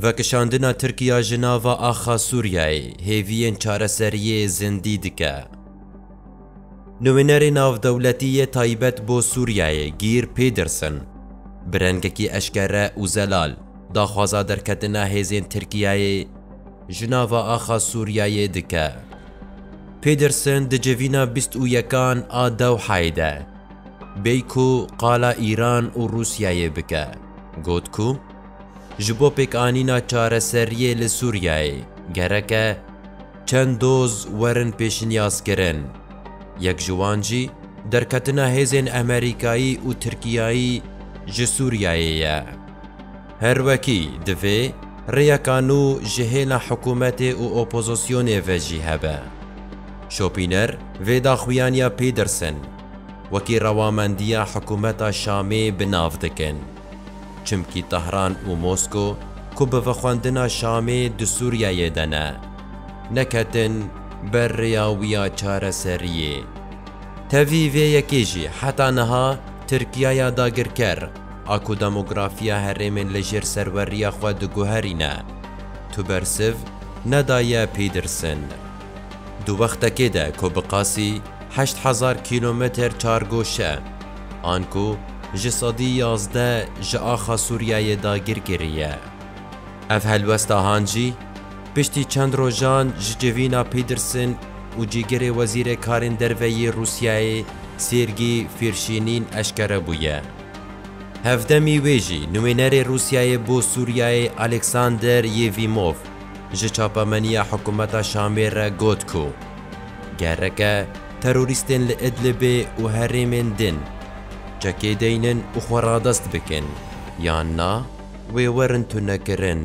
Vekişandina Tirkiya ji nava axa Sûriyeyê hêviyên çareseriyê zindî dike. Nûnerê navdewletî yê taybet bo Sûriyeyê Geir Pedersen bi rengekî eşkere û zelal daxwaza derketina hêzên Tirkiyeyê ji nava axa Sûriyeyê dike. Pedersen di civîna bîst û yekan a Dewheyê de bêyî ku qala Îran û Rûsiyeyê bike got ku, Ji bo pêkanîna çareseriyê li Sûriyeyê gerek e çend doz werin pêşniyazkirin. Yek ji wan jî derketina hêzên Amerîkayî û Tirkiyeyî ji Sûriyeyê ye. Her wekî divê rêyeka nû ji hêna hikûmetê û opozisyonê ve jî hebe. Şopîner vê daxuyaniya Pîdersen wekî rewamendiya hikûmeta Şamê bi nav dikin. Çimkî Tehran û Mosko ku bi vexwendina Şamê di Sûriyeyê de ne, neketin ber rêya wî ya çareseriyê. Tevî vê yekê jî heta niha Tirkiyaya dagirker a ku demografiya herêmên li jêr serweriya xwe diguherîne, tu bersiv nedaye Pîdersen. Di wextekê de ku bi qasî heşt hezar kîlometer çargoşe an ku ji sedî yazdeh ji axa Sûriyeyê dagir kiriye. Ev helwesta han jî piştî çend rojan ji civîna Pîderson û cîgirê wezîrê karên derve yê Rûsyayê Sêrgî Fîrşînîn eşkere bûye. Hevdemî wê jî nûênerê Rûsyayê bo Sûriyeyê Alexander Yevîmov, ji çapemeniya hikûmeta Şamê re got ku gereke terorîstên li Idlibê û herêmên din çekê deynin û xwe radest bikin yan na wê werin tunekirin.